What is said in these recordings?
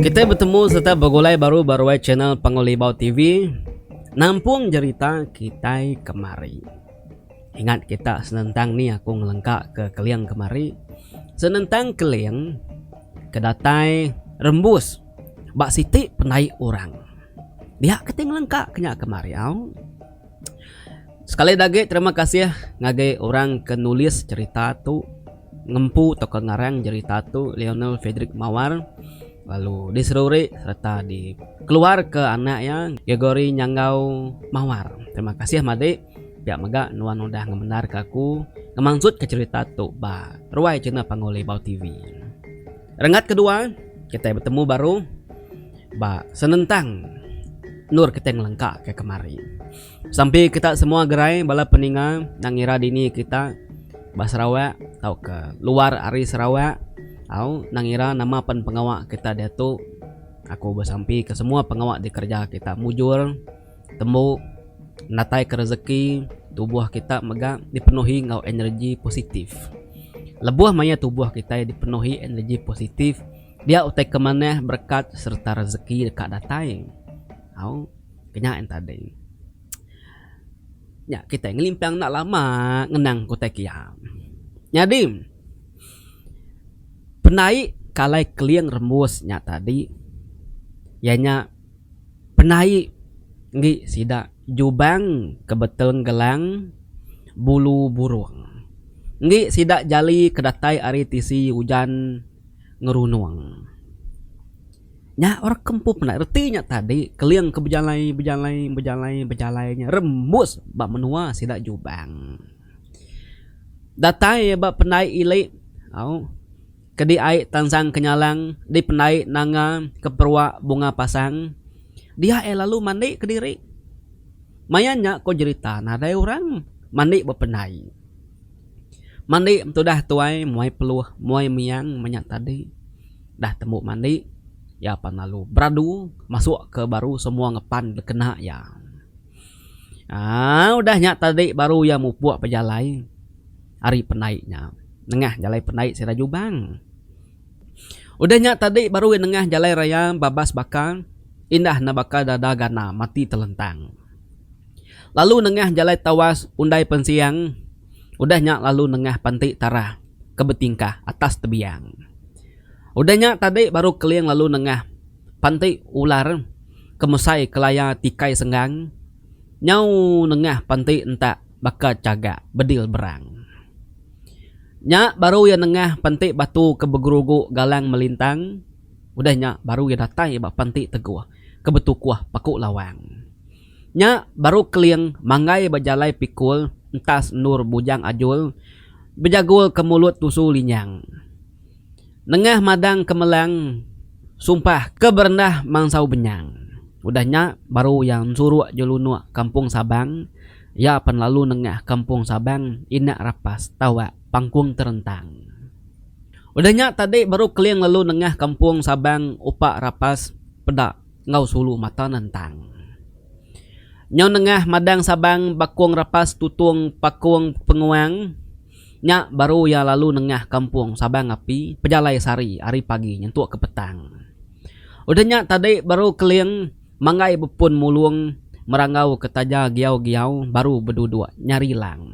Kitai betemu sereta begulai baru ba ruai channel Panggul Libau TV. Nampung jerita kitai kemari. Ingat kita senentang ni aku ngelengka ke Keling kemari. Senentang Keling ke datai rembus ba siti pendai orang. Dia kitai ngelengka ke nya kemari au. Sekali dah agi terima kasih ngagai orang ke nulis cerita tu ngempu tauka ngarang jerita tu Leonel Frederick Mawar lalu diseruri sereta dikeluarka anak iya Gregory Nyanggau Mawar. Terima kasih madi pia mega nuan udah ngemendarka aku ngemansutka cerita tu ba ruai channel Panggau Libau TV. Renggat kedua kitai betemu baru. Ba senentang endur kitai ngelengka ke kemari. Sampi kita semua gerai bala peninga enda ngira dini kita ba Sarawak tauka luar ari Sarawak au enda ngira nama pen pengawa kita diatu aku besampi ke semua pengawa dikereja kita mujur tembu natai ke rezeki tubuh kita mega dipenuhi enggau energi positif. Lebuh maya tubuh kitai dipenuhi energi positif. Dia utai ke manah berekat sereta rezeki deka datai. Au, ke nya en tadi. Nya kitai ngelimpang enda lama ngenang ke utai ke iya. Nyadi penai kalai keling rembus nya tadi iya nya penai enggi sida jubang ke beton gelang bulu burung. Enggi sida jali ke datai ari tisi ujan. ngerunung. Nya orang kempu penat reti nya tadi keling ke bejalai bejalai bejalai bejalai nya rembus ba menua sida Jubang. Datai iya ba pendai ili au ke di ai Tansang Kenyalang di pendai Nanga Keperwak Bunga Pasang dia iya lalu mandi kediri. Maya nya ko jerita nadai orang mandi ba pendai. Mandi betudah tuai muai peluh muai miang menya tadi dah tembu mandi iya pan lalu beradu masuk ke baru semua ngepan bekena iya aaa udah nya tadi baru iya mupuk bejalai ari pendai nya nengah jalai pendai sida Jubang udah nya tadi baru iya nengah jalai raya babas baka indah enda baka dada gana mati telentang. Lalu nengah jalai tawas undai pensiang udah nya lalu nengah panti tarah ke betingkah atas tebiang. Udah nya tadi baru Keling lalu nengah panti ular ke mesai kelaya tikai senggang nyau nengah panti entak baka chagak bedil berang. Nya baru iya nengah panti batu ke begerugu galang melintang udah nya baru iya datai ba panti teguh ke betukuh paku lawang. Nya baru Keling manggai ba jalai pikul entas endur Bujang Ajul bejagul ke mulut tusu Linyang. Nengah madang ke melang sumpah ke berendah mansau Benyang. Udah nya baru iya ensuruk jelunuk Kampung Sabang. Iya pan lalu nengah Kampung Sabang Inak Rapas tawa Pangkung Terentang. Udah nya tadi baru Keling lalu nengah Kampung Sabang Upak Rapas peda. enggau sulu mata nentang. Nyau nengah madang Sabang bakung rapas tutung pakung penguang nya baru iya lalu nengah kampung Sabang api pejalai sehari ari pagi nyentuk ke petang. Udah nya tadi baru Keling manggai bepun mulung meranggau ke taja giau-giau baru beduduk nyari lang.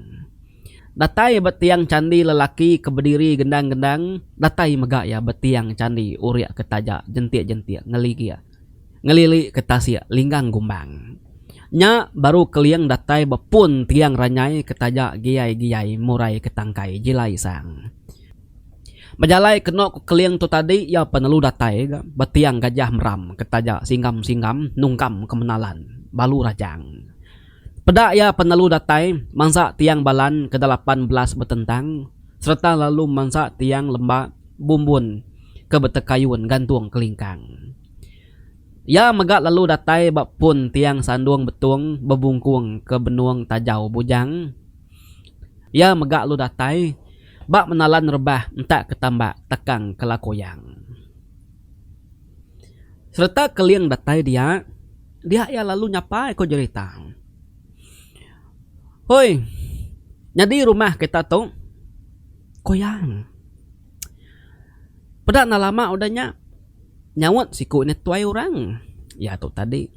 Datai ba tiang candi lelaki ke bediri gendang-gendang, datai mega iya ba tiang candi urik ke taja jentik-jentik ngeligik ngelili ke tasik linggang gumbang. Nya baru Keling datai ba pun tiang ranyai ke taja giai-giai murai ke tangkai jilai sang. Bejalai keno ku Keling tu tadi iya penelu datai ga ba tiang Gajah Meram ke taja singgam-singgam nungkam ke menalan balu rajang. Peda iya penelu datai mansa tiang balan kedalapan belas betentang sereta lalu mansa tiang lemba bumbun ke betekayun gantung kelingkang. Iya mega lalu datai ba pun tiang sandung betung bebungkung ke benung tajau bujang. Iya mega lalu datai ba menalan rebah entak ke tambak takang ke lakoyang. Sereta keling datai dia. Dia iya lalu nyapai ko jerita. Hoi. Nyadi rumah kita tu koyang. Peda enda lama udah nya nyaut siku nya tuai orang. Iya tu tadi.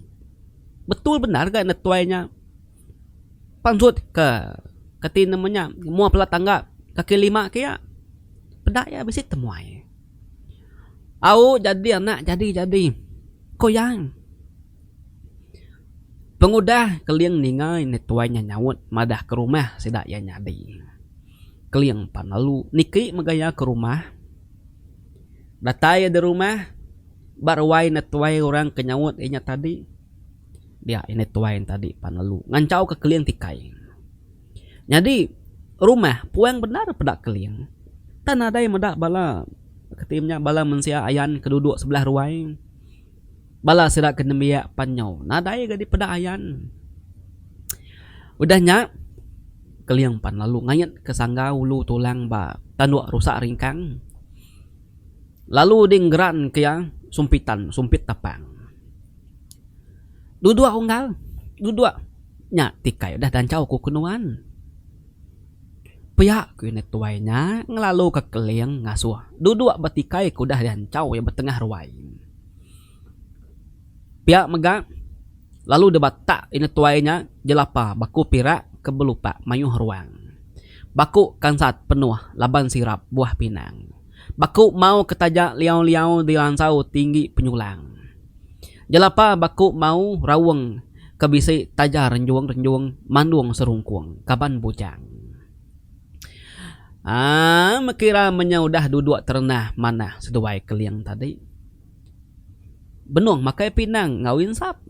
Betul bendar ga enda tuai nya panjut ke kati nama nya mua bala tangga kaki lima ke iya. Peda iya bisi temuai. Au jadi anak jadi jadi ko yang pengudah keling ningai enda tuai nya nyaut madah ke rumah sida iya nyadi keling pan lalu niki mega iya ke rumah datai iya di rumah ba ruai enda tuai orang ke nyaut inya tadi dia enda tuai tadi pan lalu ngancau ka keling ti kai. Nyadi rumah puang bendar peda keling. Tang nadai meda bala keti inya bala mensia ayan ke duduk sebelah ruai. Bala sida ke nembiak pan nyau nadai ga dipeda ayan. Udah nya keling pan lalu ngait ke sangga ulu tulang ba tanduk rusak ringkang lalu ding geran ke iya sumpitan sumpit tapang. Duduk unggal duduk. Nya tikai udah ganchau ku kenuan. Pia ku iya tuai nya ngelalu ka keling ngasuh duduk ba tikai ke udah dianchau iya ba tengah ruai. Pia mega lalu deba tak iya tuai nya jelapa baku pirak ke belupak mayuh ruang. Baku kansat penuh laban sirap buah pinang. Baku mau ke taja liau-liau diansau tinggi penyulang. Jelapa baku mau raung ke bisi taja renjung-renjung mandung serungkung kaban bujang. Aa mekira menyau udah duduk terenah manah seduai keling tadi. Benung makai pinang enggau insap.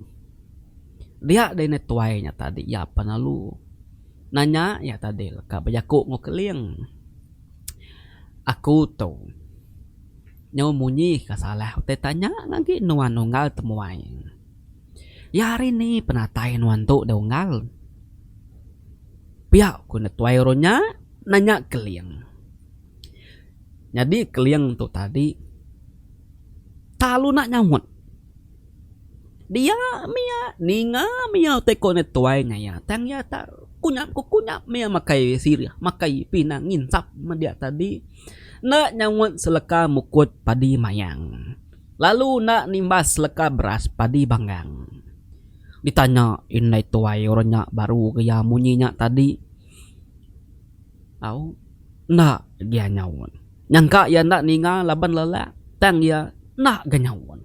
Dia deh ne tuai nya tadi iya pan lalu nanya iya tadi leka bejaku enggau keling. Aku tu. Nyu munyi ka salah utai tanya ngagi nuan unggal temuai. Ya ari ni penatai nuan tu deh unggal? Pia ku netuai oro nya nanya Keling. Nyadi Keling tu tadi tak lalu nak nyaut. Dia mia ninga mia utai ko netuai nya iya tang iya tak kunyap kukunyap mia makai sirih makai pinang nginsap meh dia tadi. Enda nyaut seleka mukut padi mayang. Lalu enda nimbas seleka beras padi banggang. Ditanya indai tuai orang nya baru ke iya munyi nya tadi tau, enda gia nyaut. Nyangka iya enda ninga laban lelak tang iya enda ga nyaut.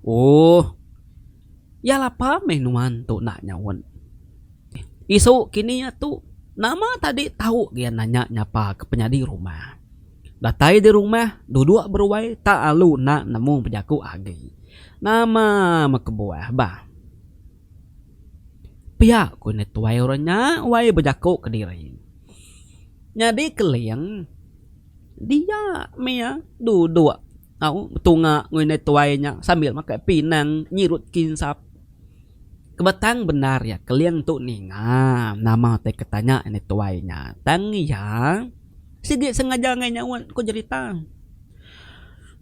Ooh. Iya lapa meh nuan tu enda nyaut. Isu kini iya tu nama tadi tau ga iya nanya nyapa ke penyadi rumah. Datai di rumah duduk beruai tak lalu enda nemu bejaku agi. Nama meh kebuah bah. Pia ku nya tuai orang nya wai bejaku kediri. Nyadi keling dia meh iya duduk. tau betunga ngoi indai tuai nya sambil makai pinang nyirut kinsap kebetang bendar iya keling tu ninga nama tai ke tanya indai tuai nya tang iya sigi sengaja ngai nyaut ku jerita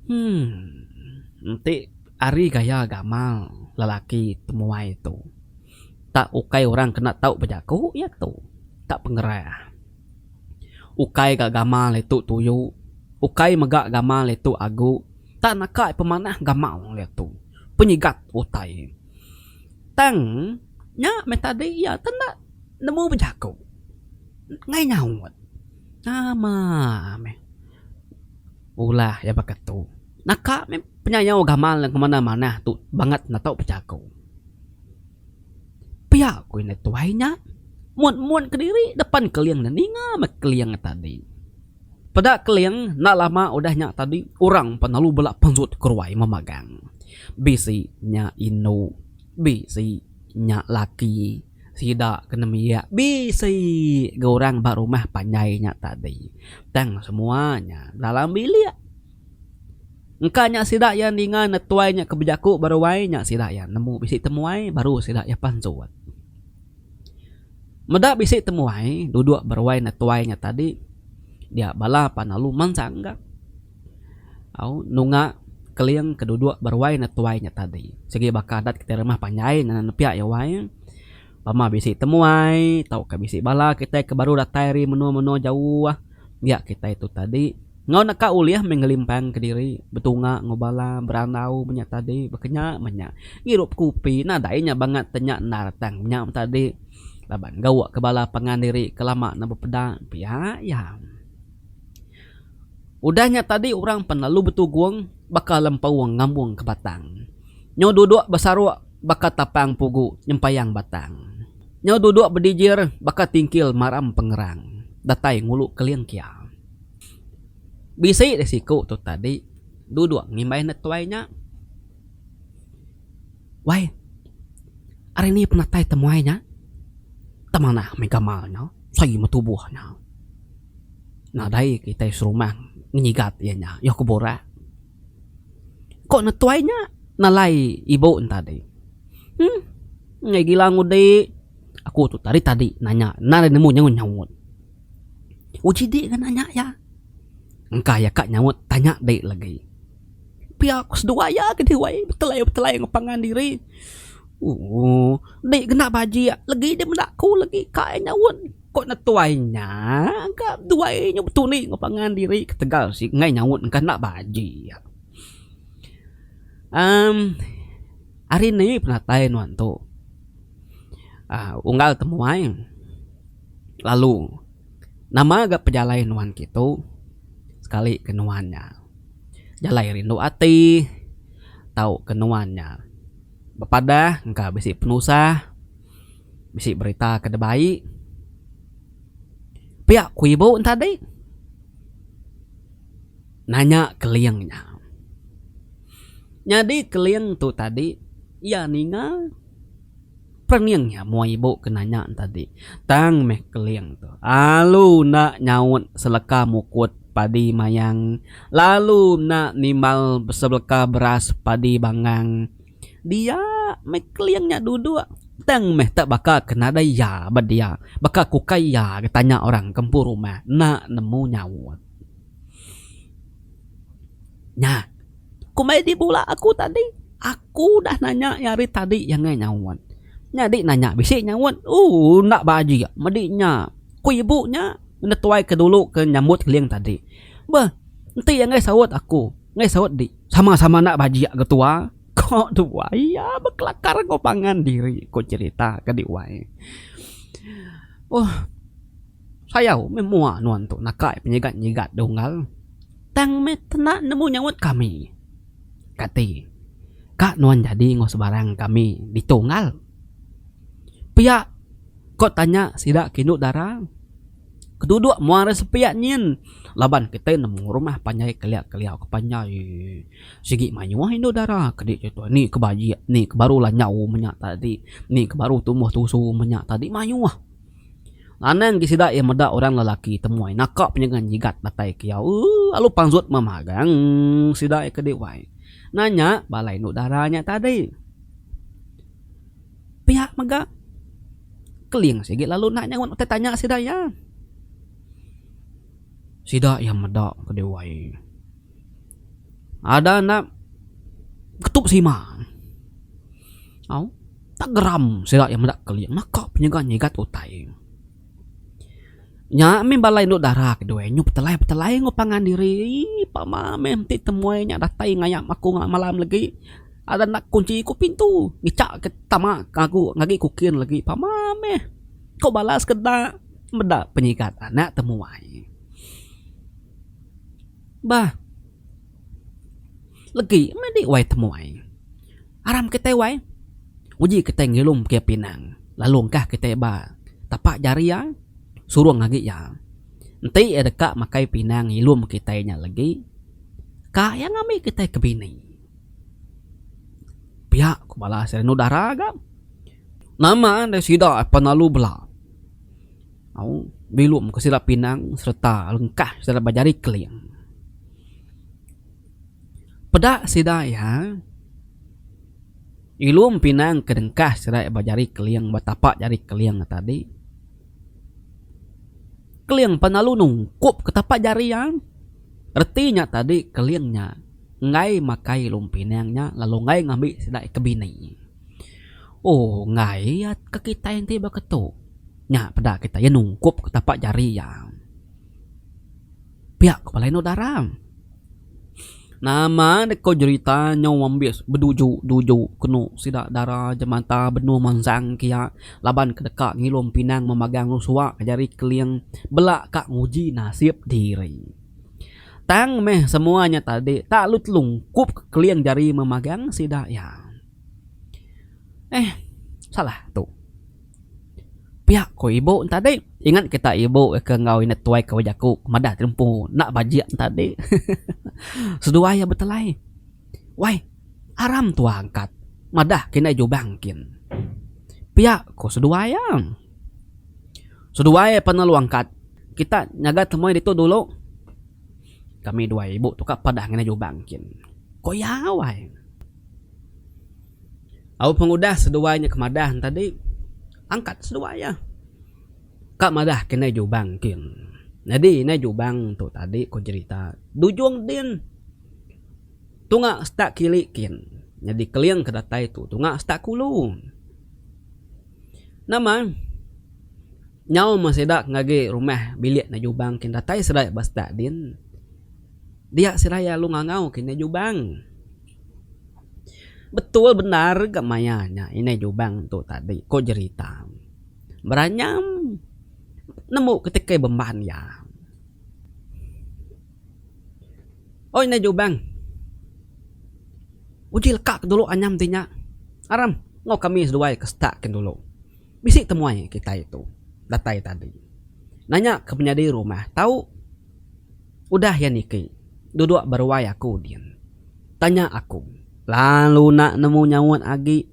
umm enti ari gaya gamal lelaki temuai tu tak ukai orang kena tau bejaku iya tu tak pengerah. Ukai ga gamal iya tu tuyu. Ukai mega gamal iya tu agu. Tang naka iya pemanah gamal iya tu. Penyigat utai. Tang nya meh tadi iya tu enda nemu bejaku. Nengah nyaut. Nama meh ulah iya baka tu. Naka meh penyayau gamal iya ke manah-manah tu bangat enda tau bejaku. Pia ku indai tuai nya muat-muat kediri depan Keling nya ninga meh Keling tadi. Peda Keling enda lama udah nya tadi orang empat lalu bela penjut ke ruai memagang. Bisi nya indu, bisi nya laki, sida ke nembiak, bisi ga orang ba rumah panjai nya tadi. Tang semua nya dalam bilik. Engka nya sida iya ninga netuai nya ke bejaku beruai nya sida iya nemu bisi temuai baru sida iya pansut. Meda bisi temuai duduk beruai netuai nya tadi dia bala pan lalu mansang ga au nunga keling ke duduk beruai netuai nya tadi sigi baka adat kita rumah panjai nepiak iya uai. Bama bisi temuai tauka bisi bala kitai ke baru datai ari menua-menua jauh dia kitai tu tadi enggau neka ulih meh ngelimpangka diri betunga enggau bala berandau menya tadi bekenya menya ngirup kopi nadai nya bangat te nya endar tang nya tadi laban gaukka bala pangan diri ke lama ne bepeda pia iya. Udah nya tadi orang pan lalu betugung baka lempau ngambung ke batang. Nyau duduk besaruk baka tapang pugu nyempayang batang. Nyau duduk bedijir baka tingkil maram pengerang datai ngulu keling kia. Bisi deh siku tu tadi duduk ngimbai netuai nya. Wai, ari ni penatai temuai nya? Temanah meh gamal nya, sai meh tubuh nya. Nadai kitai serumah ngenyigat iya nya, iya ku Borak. Ko ne tuai nya nalai ibu ne tadi. Huh, enggai gila ngudi. Aku tu tadi-tadi nanya nadai nemu nyaut-nyaut. Uji dik ga nanya iya. Engka iya ka nyaut tanya dik lagi. pia ku seduwa iya ke diwai betelai betelai ngan pangan diri ooh dik kena bajik legi dik meda aku legi kai nyaut ko netuai nya ka duai nyu betulik ngan pangan diri ketegal sik ngai nyaut engka enda bajik emm hari ni penatai nuan tu aaa unggal temuai lalu nama ga pejalai nuan ke tu sekali ke nuan nya. jalai rindu ati tauka nuan nya bepadah engka bisi penusah bisi berita ke da bai pia ku ibu enti tadi nanya keling nya nyadi keling tu tadi iya ninga. Pening nya mua ibu ke nanya tadi. Tang meh Keling tu alu enda nyaut seleka mukut padi mayang lalu enda nimbal sebeleka beras padi bangang. Dia meh Keling nya duduk tang meh te baka ke nadai iya ba dia. Baka ke ukai iya ke tanya orang ke empu rumah enda nemu nyaut. Nya komai di bula aku tadi aku udah nanya iya hari tadi iya angai nyaut nyadi nanya bisi nyaut ooh enda ba aji medi nya ku ibu nya netuai ke dulu ke nyambut link tadi beh enti iya angai saut aku angai saut di sama sama enda ba aji ga tua ko tua iya bekelakar enggau pangan diri ko cherita ke di wai ooh. Sayau meh mua nuan tu nakai penyigat-nyigat di unggal. Tang meh kena nemu nyaut kami. Kati ka nuan jadi enggau sebarang kami ditu unggal? Pia ko tanya sida ke indu dara. Keduduk mua ari sepia nyin laban kitai nemu rumah panjai kelia-kelia ke panjai. Sigi mayuh indu dara ke di situ ni ke bajik ni ke baru lanjau menya tadi ni ke baru tumbuh tusu menya tadi mayuh. Anang ti sida iya meda orang lelaki temuai naka penyengan nyigat datai ke iya ooh alu panzut memagang sida iya ke di wai nanya bala indu dara nya tadi pia mega keling sigi lalu enda nyaut utai tanya sida iya. Sida iya meda ke di wai. Ada anak ketup sima au tak geram sida iya meda keling naka penyaga nyigat utai. Nya mih bala indu dara ke duai nyu petelai petelai enggau pangan diri pama mih enti temui nya datai ngayap aku malam lagi ada enda kunchi ku pintu ngecha ke tama ngagu ngagi kukin lagi pama mih ku bala sekeda meda penyigat anak temuai. Bah. Legi meh dik wai temuai. Aram kitai wai. Uji kitai ngilum ke pinang. Lalu engkah kitai ba tapak jari iya. Surung agi iya. Enti iya deka makai pinang ngilum kitai nya legi. Ka iya ngambi kitai ke bini. Piak ku bala sida anu dara ga. Nama ndai sida apan lalu bela. Au bilum ke sida pinang sereta lengkah sida ba jari keling. Peda sida iya ilum pinang ke dengkah sida ba jari keling ba tapa jari keling tadi keling pan lalu nungkup ke tapa jari iya reti nya tadi keling nya enggai makai ilum pinang nya lalu enggai ngambi sida ke bini. Ohh enggai iya ke kitai enti baka tu. Nya peda kita, iya nungkup ke tapak jari iya. Pia ku Palai Endur Dara. Nama deka jerita nyau ambis beduju-duju kenu sida dara jemata benung mansang kia laban ke deka ngilum pinang memagang rusua ke jari keling bela ka nguji nasip diri. Tang meh semua nya tadi tak lalu telungkup ke keling jari memagang sida iya. Eh, salah tu. Pia ko ibu tadi ingat kita ibu ke enggau ina tuai ke bejaku madah ti empu enda bajik tadi seduai iya betelai wai aram tua angkat madah kini jubang kin pia ko seduai iya seduai pan lalu angkat kita nyaga temuai ditu dulu kami dua ibu tu ka padah ngenai jubang kin ko iya wai. Lalu pengudah seduai nya ke madah tadi, angkat seduai iya. Ka madah ke indai Jubang kin. Nyadi indai Jubang tu tadi ku jerita Dujung Din. Tunga setak kili kin. Nyadi keling ke datai tu tunga setak kulu. Nama nyau meh sida ngagai rumah bilik indai Jubang kin datai serai ba setak din. Dia serai lalu ngangau ke indai Jubang. Betul bendar ga maya nya indai lubang tu tadi ko jerita. Beranyam nemu ketegal bemban iya. Oi indai lubang uji leka ke dulu anyam ti nya aram enggau kami seduai ke setak kin dulu bisi temuai kitai tu datai tadi. Nanya ke penyadi rumah tau. Udah iya niki, duduk beruai aku din. Tanya aku. Lalu enda nemu nyaut agi.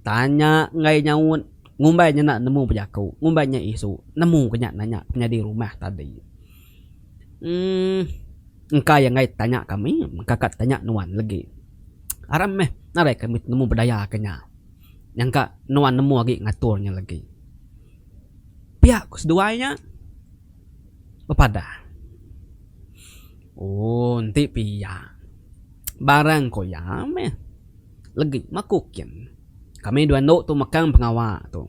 Tanya enggai nyaut. Ngumbai nya enda nemu bejaku. Ngumbai nya isu. Nemu ke nya nanya penyadi rumah tadi. Uhh. Engka iya enggai tanya kami. Engka ka tanya nuan legi. Aram meh nadai kami nemu bedaya ke nya. Nyangka nuan nemu agi ngatur nya legi. Pia ku seduai nya. bepadah. Ooh enti pia barang ko iya meh legi maku kin kami dua endo tu mekang pengawa tu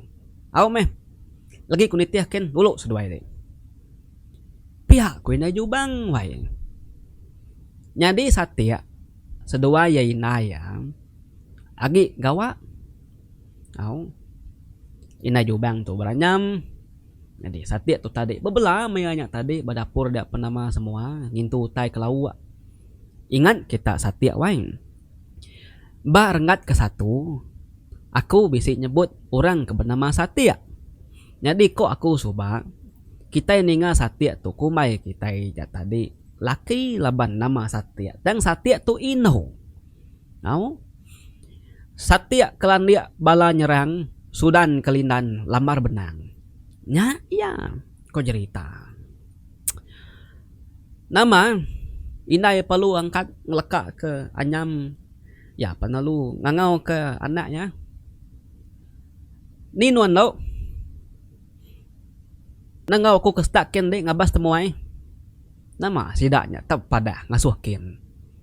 au meh legi ku nitih kin dulu seduai ri pia ku indai jubang wai nyadi satik seduai iya indai iya agi gawa au indai jubang tu beranyam. Nyadi satik tu tadi. Bebela maya nya tadi ba dapur dia penama semua ngintu utai ke lauk. Ingat kita satik waing. Ba renggat ke satu, aku bisi nyebut orang ke benama Satik. Nyadi ko aku suba, kitai ninga Satik tu kumbai kitai nya tadi laki laban nama Satik tang Satik tu indu. Au. Satik kelandik bala nyerang Sudan ke Lindan lambar benang. Nya iya, ko jerita. Nama indai perlu angkat ngeleka ke anyam iya pan lalu ngangau ke anak iya. Ni nuan endo nengau aku ke stat ke enti ngabas temuai. Nama sida nya tau padah ngasuh kin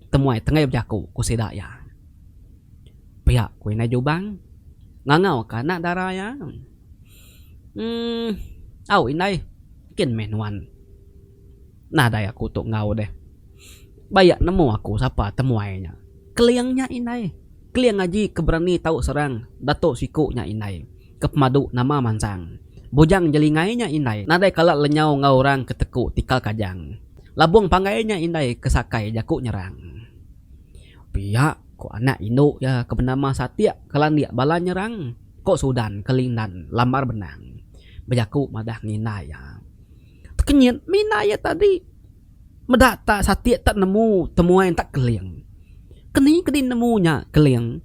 temuai tenggai bejaku ku sida iya. Pia ku indai Jubang ngangau ka anak dara iya. Emm au indai kin meh nuan nadai aku tu enggau deh. Ba iya nemu aku sapa temuai nya. Keling nya indai. Keling aji ke berani tau serang dato siku nya indai. Ke pemadu nama mansang. Bujang jelingai nya indai nadai kala lenyau enggau orang ke teku tikal kajang. Labung panggai nya indai ke sakai jaku nyerang. Pia, ko anak indu iya ke benama Satik ke landik bala nyerang, ko Sudan ke Lindan lambar benang bejaku madah nginda iya. Tekenyit mih inda iya tadi. Meda tak Satik tak nemu temuai enta Keling. Keni ke dinemu nya Keling?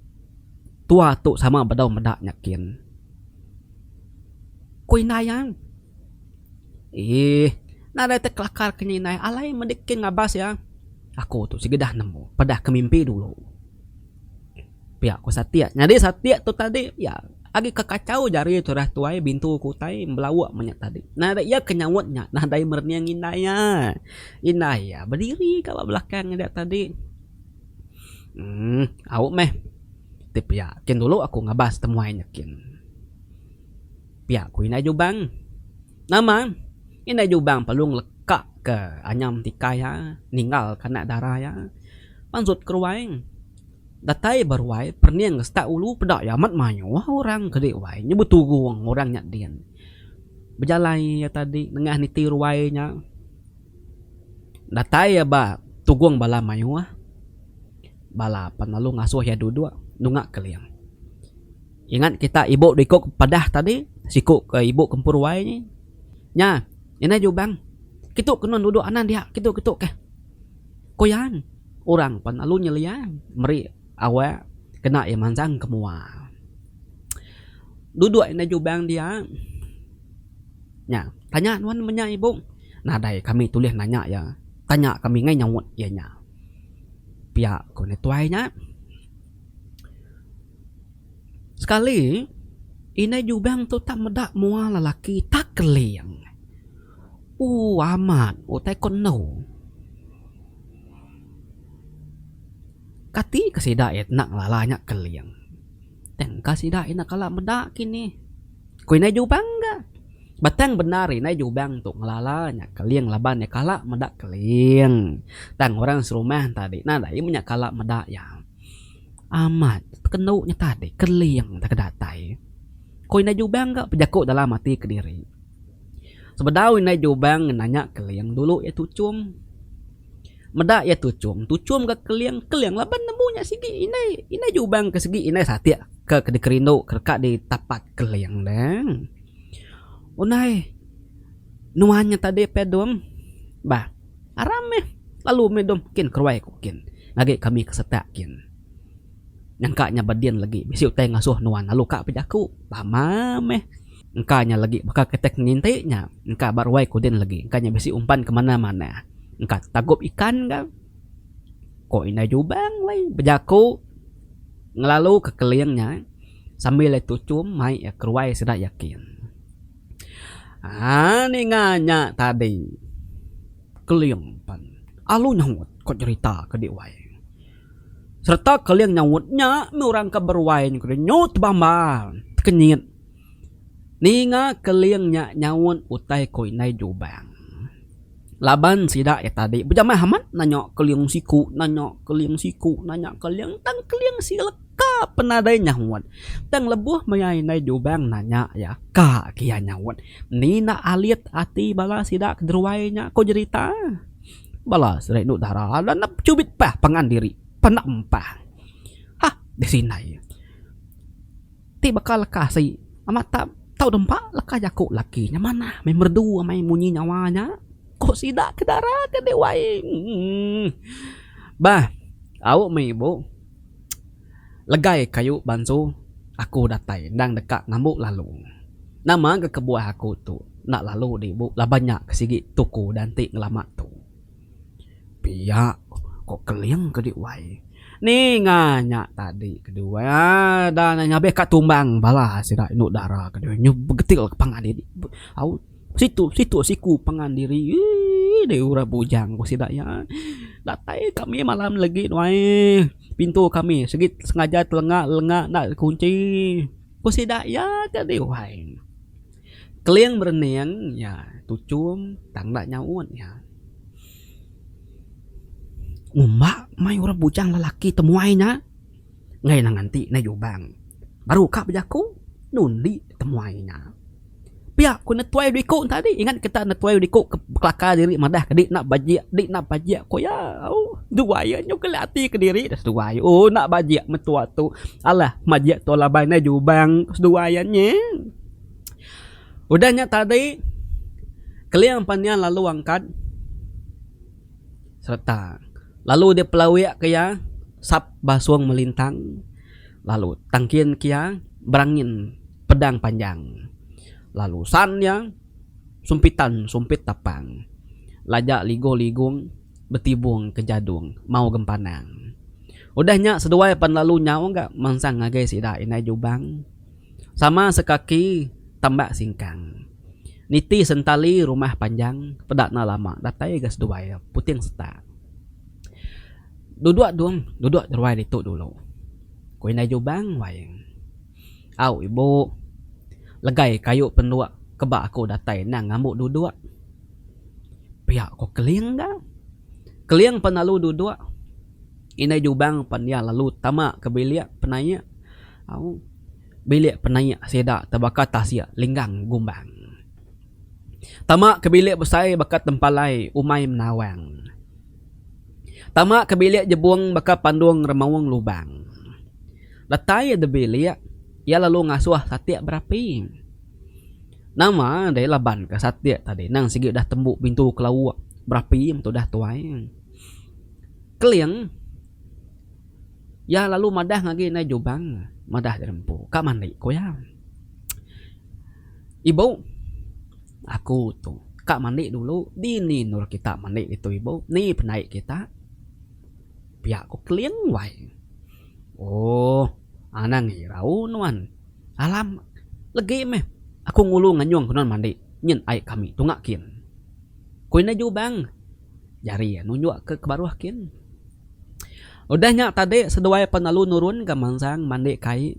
Tua tu sama bedau meda nya kin. Ku indai iya. Eeh. Nadai ti kelakar ke nya indai. Alai medi kin ngabas iya. Aku tu sikedah nemu peda ke mimpi dulu. Pia ku satik. Nyadi satik tu tadi iya agi ke kachau jari turah tuai bintu ke utai belauk meh nya tadi. Nadai iya ke nyaut nya nadai merening indai iya. Indai iya bediri ka ba belakang iya tadi. Emm, au meh. Ti pia, kin dulu aku ngabas temuai nya kin. Pia ku indai Jubang. Nama? Indai Jubang perlu ngelekaka anyam ti kai iya, ninggalka anak dara iya. Mansut ke ruai. Datai ba ruai, perening ke setak ulu, peda iya amat mayuh orang ke di ruai nya beturung orang nya din. Bejalai iya tadi nengah niti ruai nya. Datai iya ba tugong bala mayuh bala pan lalu ngasuh iya duduk nunga keling. Ingat kita ibu diku ke padah tadi siku ke ibu kempur wai nya nya ina jubang kitu ke nang duduk anan dia kitu kitu keh ku iya orang pan lalu nyelia meri awak kena iya mansang ke mua. Duduk ina jubang dia. nya. Tanya nuan meh nya ibu. Nadai kami tulih nanya iya. Tanya kami ngai nyaut iya nya. Pia ku netuai nya. Sekali indai Jubang tu tak meda mua lelaki tak keling. Ooh amat utai ko endo. Kati ke sida enda ngelala nya keling. Tangka sida ina kala meda kinih. Ku indai Jubang ga. Batang bendar indai Jubang tu ngelala nya Keling laban iya kala meda Keling. Tang orang serumah enta adi nadai meh nya kala meda iya. Amat kenu nya tadi Keling taga datai. Ku indai Jubang ga bejaku dalam ati kediri. Sebedau indai Jubang nanya Keling dulu iya tuchum. Meda iya tuchum, tuchum ga keling, keling laban nemu nya sigi indai, indai jubang ke sigi indai satik ke ke dikerindu ke deka ditapat keling deh. Unai nuan nya tadi peh dom bah aram meh lalu meh dom kin keruai ku kin ngagi kami ke setak kin nyangka nya bedin legi bisi utai ngasuh nuan lalu ka pe jaku pama meh. Engka nya legi baka ketek nginti nya. Engka ba ruai kudin legi. Engka nya bisi umpan ke manah manah. Engka tagup ikan ga. Ko indai jubang wai bejaku ngelalu ke keling nya sambil iya tuchum mai iya ke ruai sida yakin. Haa ninga nya tadi keling pan alu nyaut ko cherita ke di wai. Serta keling nyaut nya meh orang ke beruai nya nyut bambar tekenyit. Ninga Keling nya nyaut utai ko indai Jubang. Laban sida iya tadi bejamah amat nanya Keling siku nanya Keling siku nanya Keling tang Keling sileka pen nadai nyaut. Tang lebuh maya indai Jubang nanya iya ka ke iya nyaut. Ni enda alit ati bala sida ke deruai nya ko jerita. Bala sida indu dara enda nemu chubit pah pangan diri. Penda empah. Hah bisi indai. Ti baka leka sei amat tak tau dempa leka jaku laki nya manah meh merdu amai munyi nyawa nya ko sida ke dara ke deh wai emm bah au meh ibu legai kayu bansu aku datai endang deka ngambu lalu nama ga kebuah aku tu enda lalu deh ibu laban nya ke sigi tuku dan ti ngelama tu. Pia ko Keling ke dih wai. Ninga nya tadi ke dih wai enda anang nya abih ka tumbang bala sida indu dara ke dih nyu begetil ka pangan diri au situ situ siku pangan diri eii deh orang bujang ko sida iya. Datai kami malam ne legi wai pintu kami sigi sengaja telenga lenga enda kunchi ko sida iya ke dih wai. Keling berening nya tuchum tang enda nyaut nya. Ngumba mai orang bujang lelaki temuai nya ngena nganti nai jubang baru ka bejaku nundi temuai nya. Pia ku netuai dua iku tadi ingat kita netuai dua iku kelakar diri madah ke enda bajik enda enda bajik ku iya ooh dua iya nyau kelai ati kediri seduai ooh enda bajik mentua tu alah majik tau laban nai jubang seduai iya nyeh. Udah nya tadi Keling Panjang lalu angkat sereta lalu dipelawik ke iya sap basung melintang lalu tangkin ke iya berangin pedang panjang lalu san iya sumpitan sumpit tapang laja ligu ligung betibung ke jadung mau gempanang. Udah nya seduai pan lalu nyau ga mansang ngagai sida indai Jubang. Sama sekaki tambak singkang. Niti sentali rumah panjang peda enda lama datai ga seduai iya puting setak. Duduk dong duduk ruai ditu dulu. Ku indai Jubang wai. Au ibu legai kayu penduk ke ba aku datai endang ngambu duduk. Pia ko Keling ga. Keling pun lalu duduk. Indai Jubang pan iya lalu tama ke bilik penaik. Au, bilik penaik sida tebaka tasik linggang gumbang. Tama ke bilik besai baka tempalai umai menawang. Tama ke bilik jebung baka pandung remaung lubang. Datai iya dibilik, iya lalu ngasuh satik berapi. Nama deh laban ke satik tadi nang sigi udah tembu pintu ke lauk berapi metu dah tuai. Keling, iya lalu madah ngagi indai Jubang madah diri empu. Ka mandi, ku iya. Ibu, aku tu ka mandi dulu. Dini endur kita mandi ditu, ibu. Ni pandai kita? Pia ku Keling wai. Ooh, anang irau nuan. Alam, legi meh aku ngulu nganyung ku nuan mandi. Nyin ai kami tunga kin. Ku indai Jubang. jari iya nunjukka ke baruh kin. Udah nya tadi seduai penalu nurun gamansang mandi kai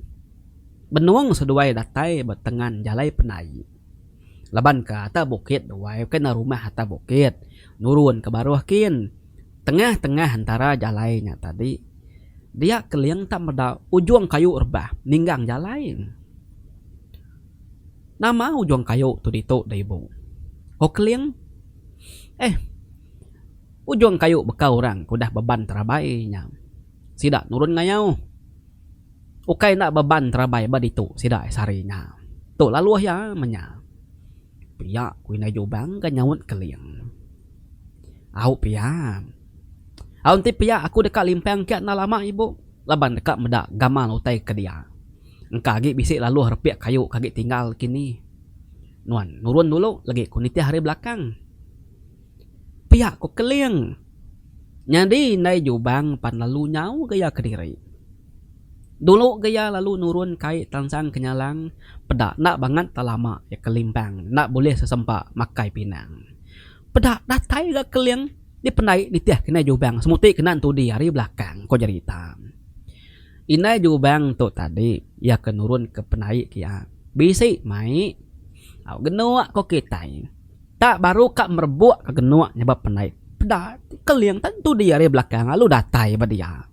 benung seduai datai ba tengan jalai penai laban ke atas bukit duai bukai enda rumah atas bukit nurun ke baruh kin tengah tengah antara jalai nya tadi dia keling tak meda ujung kayu rebah ninggang jalai nama ujung kayu tu ditu da ibu ko keling. Eh, ujung kayu bekau orang ke udah beban terabai nya sida nurun ngayau. Ukai enda beban terabai ba ditu sida ai sehari nya. Tu laluh iya menya. Pia ku indai Jubang ga nyaut Keling. Au pia. Au enti pia aku deka limpang kia enda lama ibu laban deka meda gamal utai ke dia. Engka agi bisi laluh repik kayu ke agi tinggal kini. Nuan nurun dulu legi ku nitih ari belakang. Pia ku Keling. Nyadi indai Jubang pan lalu nyau gaya kediri. Dulu gaya lalu nurun kai tansang ke nyalang peda enda bangat tak lama iya ke limpang enda bulih sesempa makai pinang. Peda datai ga Keling dipendai nitih ke indai Jubang semuti kena entudi ari belakang, ku Jerita. Indai Jubang tu tadi iya ke nurunka penai ke iya. Bisi mai au genuk ko kitai. Tak baru ka merebuk ka genuk nyebab penai peda ti keling tentu dia ari belakang lalu datai ba dia.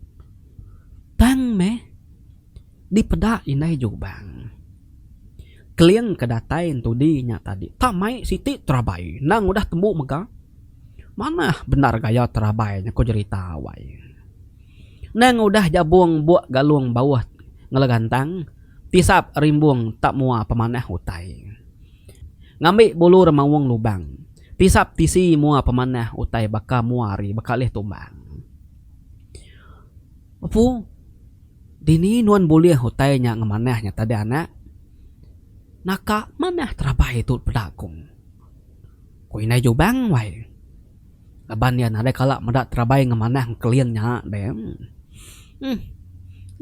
Tang meh dipeda Indai Jubang. Keling ke datai entudi nya tadi tak mai siti terabai endang udah tembu mega Manah bendar gaya terabai nya ko jerita wai. Nang udah jabung buk galung bauh ngelagantang tisap rimbung tak mua pemanah utai. Ngambi bulu remaung lubang tisap tisi mua pemanah utai baka mua ari bekalih tumbang. Apu dini nuan bulih utai nya ngemanah nya tadi anak? Naka manah terabai tu peda ku. Ku indai Jubang wai. Laban iya nadai kala meda terabai ngemanah Keling nya deh. Emm.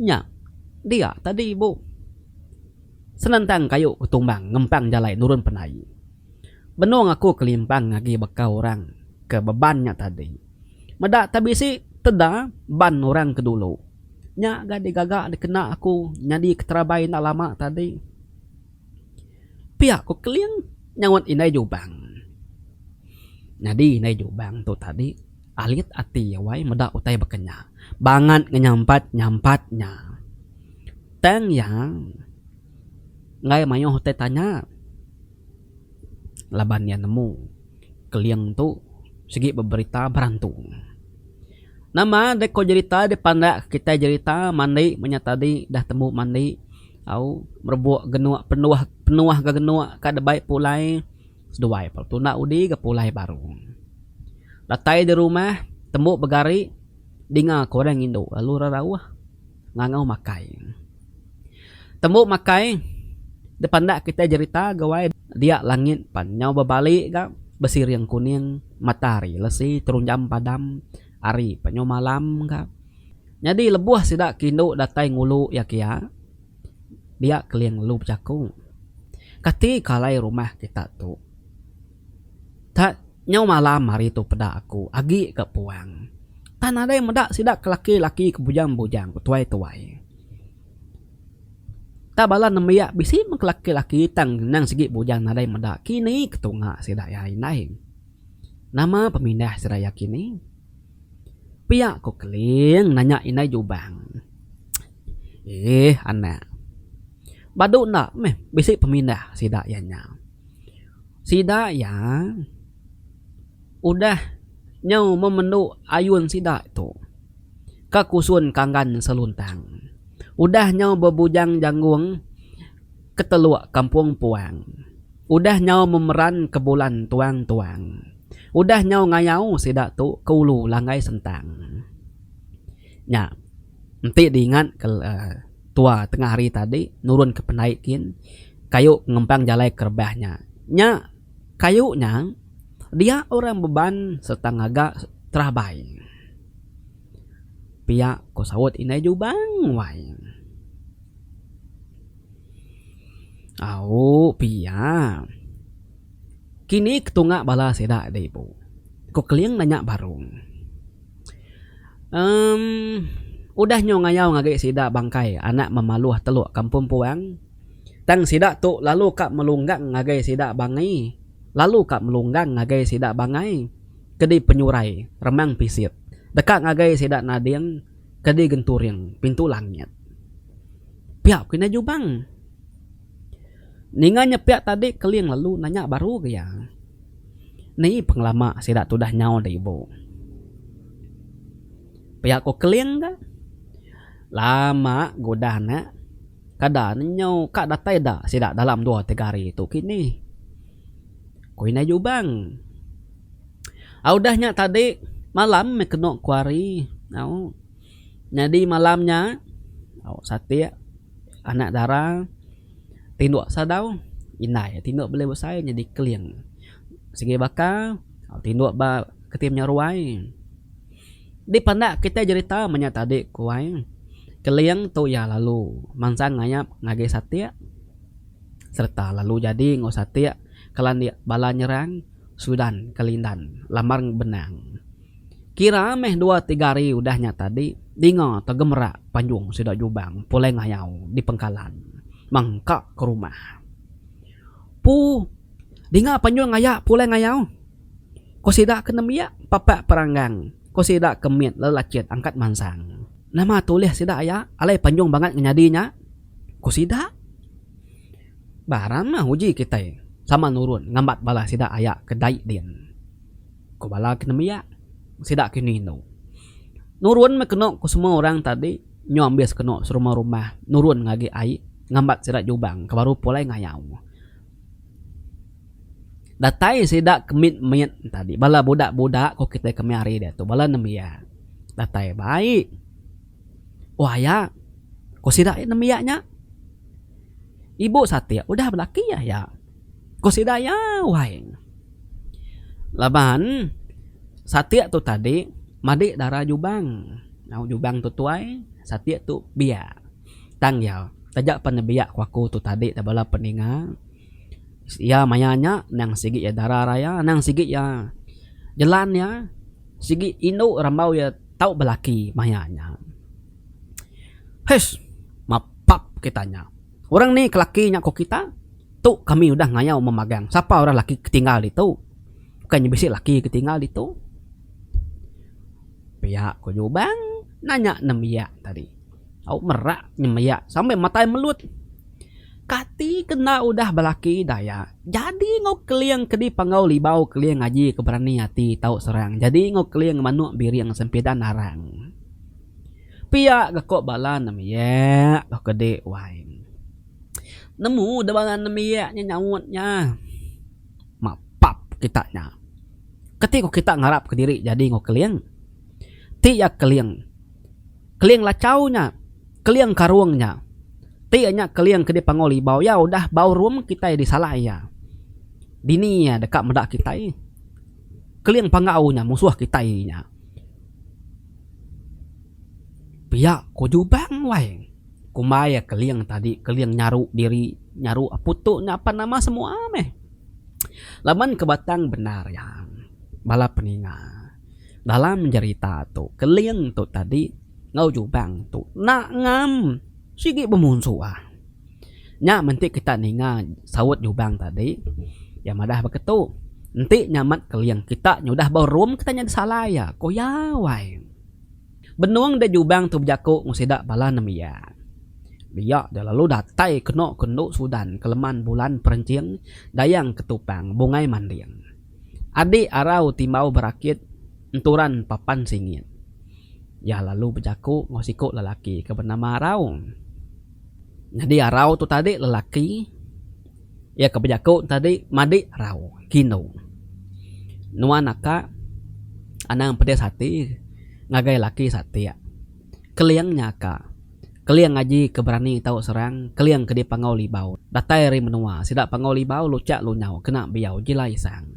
Nya dia tadi ibu. Senentang kayu ketumbang ngempang jalai nurun penai. Benung aku kelimpang agi baka orang ke beban nya tadi. Meda tak bisi teda ban orang ke dulu. Nya ga digaga dikena aku nyadi keterabai enda lama tadi. Pia ku Keling nyaut indai Jubang. Nyadi indai Jubang tu tadi alit ati wai meda utai baka nya. Bangat ngenyampat nyampat nya. Tang iya enggai mayuh utai tanya laban iya nemu Keling tu sigi beberita berantu. Nama deka jerita dipandakka kitai jerita mandi menya tadi dah tembu mandi. Au merebok genok penuah penuah ga genok ka debai pulai seduai pa tuna udi ga pulai baru. Datai di rumah tembu begari dinga ka orang ngindu lalu ra rauh ngangau makai. Tembu makai dipandak kitai jerita gawai dia langit pan nyau bebali ga besiring kuning matahari lesi terunjam padam ari penyuh malam ka. Nyadi lebuh sida ke indu datai ngulu iya ke iya, dia keling lalu bejaku, Kati ke alai rumah kita tu? Tang nyau malam hari tu peda aku agi ke puang. Tang nadai meda sida ke laki-laki ke bujang-bujang betuai-tuai. Tang bala nembiak bisi men ke laki-laki tang endang sigi bujang nadai meda kini ke tunga sida iya indai. Nama pemindah seraya kini? Pia ku Keling nanya indai Jubang. Eeh anak. Badu enda meh bisi pemindah sida iya nya. Sida iya udah nyau memendu ayun sida tu ka Kusun Kanggan Seluntang. Udah nyau bebujang janggung. Keteluk kampung puang. Udah nyau memeran ke bulan tuang-tuang. Udah nyau ngayau sida tu ke ulu langgai sentang. Nya. Enti diingat ke tua tengah hari tadi nurun ke pendai kin kayu pengempang jalai ke rebah nya. Nya kayu nya dia orang beban serta ngaga terabai. Pia ko saut indai Jubang wai. Au pia. Kini ketunga bala sida da ibu. Ku Keling nanya Barong. Emm udah nyau ngayau agi sida bangkai anak memaluh telok kampung puang. Tang sida tu lalu ka melunggang ngagai sida bangi lalu ka melunggang ngagai sida bangai kedi penyurai remang pisit deka ngagai sida nading. ke di genturing pintu langit. Pia ku indai Jubang. Ninga nya pia tadi keling lalu nanya baru ga iya. Ni pengelama sida tu udah nyau da ibu. Pia ku keling ga. Lama ga udah ne. Kada ne nyau ka datai da sida dalam dua tiga hari tu kinih. Ku indai Jubang. Au udah nya tadi malam meh kenu ku ari. Au. Nyadi malam nya au satik anak dara tinduk sadau indai tinduk beli besai nyadi keling. Sigi baka au tinduk ba keti nya ruai. Dipandak kitai jerita meh nya tadi ku ai. Keling tu iya lalu mansang ngayap ngagai satik. sereta lalu jadi enggau satik kelandik bala nyerang Sudan ke Lindan, Lambarng Benang. Kira meh dua tiga hari udah nya tadi, dinga tegemerak panjung sida Jubang pulai ngayau di pengkalan mengka ke rumah. Pu, dinga panjung ngaya pulai ngayau? Ko sida ke nembiak papak peranggang, ko sida ke mit lelachit angkat mansang. Nama tulih sida aya alai panjung bangat ngenyadi nya? Ku sida, Barang mah uji kitai sama nurun ngambat bala sida aya ke dai din. Ku bala ke nembiak, Sida kenu indu. Nurun meh kenu ku semua orang tadi nyu ambis kenu serumah-rumah nurun ngagi ai ngambat sida jubang ke baru pulai ngayau. Datai sida ke mit-mit tadi, bala budak-budak ku kitai ke meh ari diatu, bala nembiak. Datai bai. Oh aya, ko sida iya nembiak nya. Ibu satik udah belaki iya aya, ko sida iya wai. Laban satik tu tadi madik dara jubang. Au jubang tu tuai, satik tu biak. Tang iya, taja pan nembiak ko aku tu tadi bala peninga. Iya maya nya endang sigi iya dara raya endang sigi iya jelan iya sigi indu rambau iya tau belaki maya nya. Hais mapap kita nya orang ni ke laki nya ko kita tu kami udah ngayau memagang sapa orang laki ke tinggal ditu bukai nya bisi laki ke tinggal ditu pia ku Lubang nanya nemu iya tadi. Au merak nyembiak sambil matai melut. Kati ke enda udah belaki daya jadi enggau keling ke dipanggau libau keling aji ke berani ati tau serang jadi enggau keling manuk biring sempidan arang. Pia ga ko bala nembiak tau kedi wai. Nemu de bala nembiak nya nyaut nya mapap kita nya. Kati ko kita ngarap ke diri jadi enggau keling. Ti ya keling. Keling lachau nya. Keling karung nya. Ti nya keling ke dipangau libau iya udah ballroom kitai disalai iya. Dini iya deka meda kitai. Keling panggau nya musuh kitai nya. Pia ko Jubang wai. Kumbai iya keling tadi keling nyaru diri nyaru aput tu nya apan nama semua meh. Laban ke batang bendar iya bala peninga. Dalam jerita tu Keling tu tadi enggau Jubang tu nak ngam sigi bemunsuh ah. Nya menti kita ninga saut Jubang tadi iya madah baka tu enti nyamat Keling kita nyudah ba room kita nya disalai iya ko iya wai. Benung deh Jubang tu bejaku enggau sida bala nembiak dia deh lalu datai keno ke endu Sudan, Keleman, Bulan, Perenching, Dayang, Ketupang, Bungai Manding. Adi arau ti embau berakit enturan papan singit. Iya lalu bejaku enggau siku lelaki ke benama Arau. Nyadi Arau tu tadi lelaki iya ke bejaku tadi madi Arau, Kino. Nuan aka anang pedis ati ngagai laki satik. Keling nya aka. Keling aji ke berani tau serang, keling ke dipangau libau. Datai ari menua, sida pangau libau luchak lunyau kena biau jilai sang.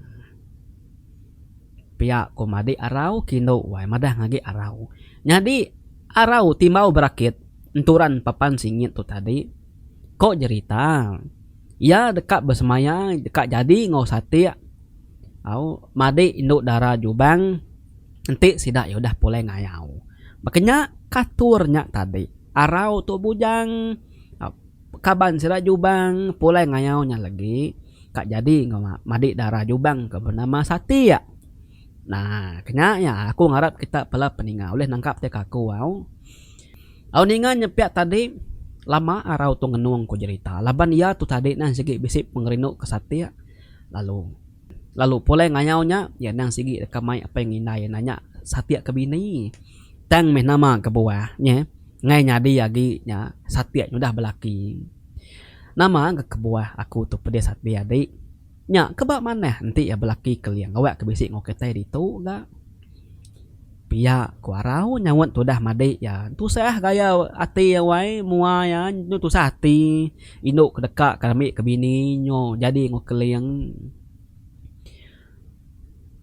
Pia ko madik arau kindu wai madah ngagi arau. Nyadi arau timbau berakit enturan papan singit tu tadi. Ko jerita, iya deka besemaya deka jadi enggau satik au madik indu dara jubang. Enti sida iya udah pulai ngayau. Baka nya katur nya tadi. Arau tu bujang kaban sida Jubang pulai ngayau nya lagi ka jadi enggau madi dara Jubang ke benama Satik. Nah, kenya iya aku ngarap kita bala peninga ulih nangkap ti ka aku au. Au ninga nya pia tadi lama arau tu ngenung ku jerita laban iya tu tadi neh sigi bisi pengerindu ke Satik lalu. Lalu pulai ngayau nya, iya endang sigi deka mai apai enggau indai iya nanya, Satik ke bini? Tang meh nama kebuah nya? Ngai nyadi agi nya, Satik nyudah belaki. Nama ga kebuah aku tu pedis ati adi? Nya ke ba manah enti iya belaki keling awakka bisi enggau kitai ditu ga. Pia ku arau nyaut tudah madik iya. Tusah gaya ati iya wai mua iya enu tusah ati indu ke deka ke rami ke bini nyu jadi enggau keling.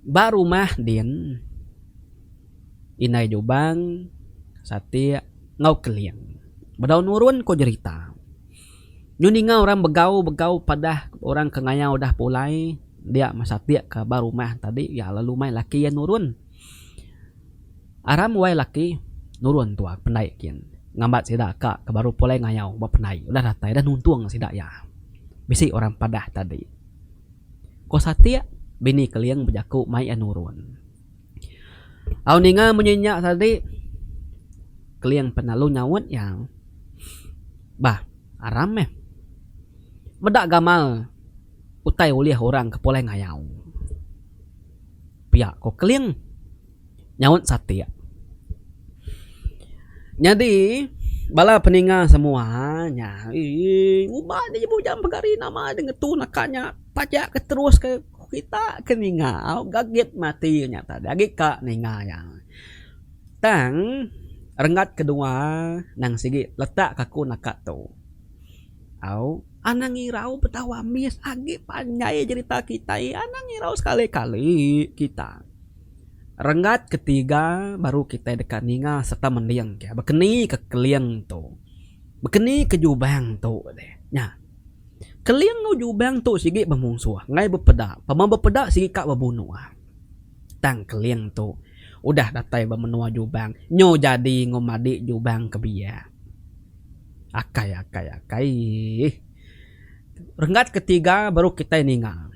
Ba rumah din indai Jubang, Satik enggau Keling bedau nurun ku jerita. Nyu ninga orang begau begau padah orang ke ngayau dah pulai dia mesatik ke ba rumah tadi ya lalu mai laki ya nurun aram wai laki nurun tua ke pendai kin ngambat sida ka ke baru pulai ngayau ba pendai udah datai udah nuntung sida ya bisi orang padah tadi ko satik bini keling bejaku mai ya nurun. Au ninga munyi nya tadi Keling pun lalu nyaut iya. Bah aram meh meda gamal utai ulih orang ke pulai ngayau. Pia ko Keling nyaut satik. Nyadi bala peninga semua nya uii uban aja bujang pegari nama deh ngetu naka nya taja ke terus ke. Kita ke ninga ga git mati nya tadi agi ka ninga iya. Tang renggat kedua nang sigi letak ka aku naka tu. Au anang irau betau ambis agi panjai jerita kitai anang irau sekali kali kita. Renggat ketiga baru kitai deka ninga serta mending ke bekeni ka keling tu. Bekeni ka jubang tu deh nya. Keling enggau Jubang tu sigi bemunsuh enggai bepeda, pemau bepeda sigi ka bebunuh. Tang Keling tu udah datai ba menua Jubang nyu jadi enggau madi Jubang ke biak. Akai akai akai eeh. Renggat ke tiga baru kitai ninga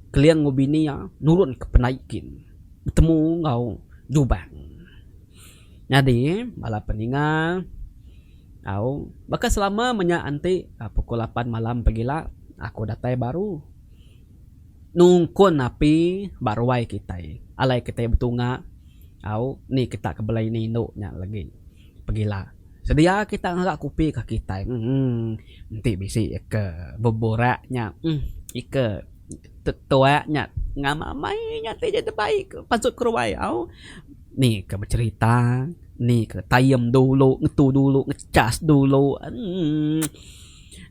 Keling enggau bini iya nurun ke penai kin betemu enggau Jubang. Nyadi, bala peningal au, baka selama menya enti pukul lapan malam pegila aku datai baru nungkun api ba ruai kitai. Alai kitai betunga au ni kita ke bela ini indu nya legi pegila. Sedia kita ngaga kopi ka kitai. Emm enti bisi ke beburak nya emm ika tetuak nya ngamai-amai nya ti jadi baik pansut ke ruai au. Ni ke becerita ni ke time dulu ngetu dulu ngechas dulu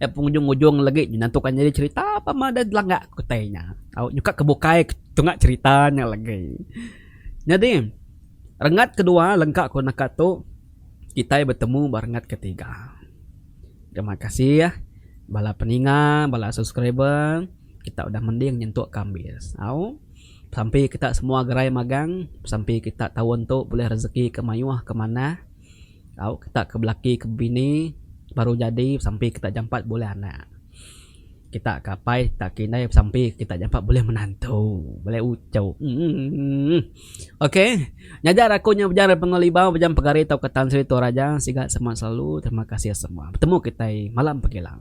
penghujung hujung lagi nyena tu kan nyadi cerita pama da langga ku tai nya au nyuka ke bukai tunga cerita nya lagi. Nyadi rengat kedua lengka ku naka tu kitai betemu ba rengat ketiga. Terima kasih bala peninga bala subscriber kita udah mending nyentuk ka ambis au. Sampi kita semua gerai magang, sampi kita taun tu bulih rezeki ke mayuh ke manah tau kita ke belaki ke bini baru jadi sampi kita jampat bulih anak. Kita ke apai kita ke indai sampi kita jampat bulih menantu, bulih uchu emm. Ok ngajar aku nya Ujang dari Pengolah Libau Ujang Pegari tauka Tan Sri Toraja siga semak selalu terima kasih semua. Betemu kitai malam pegila.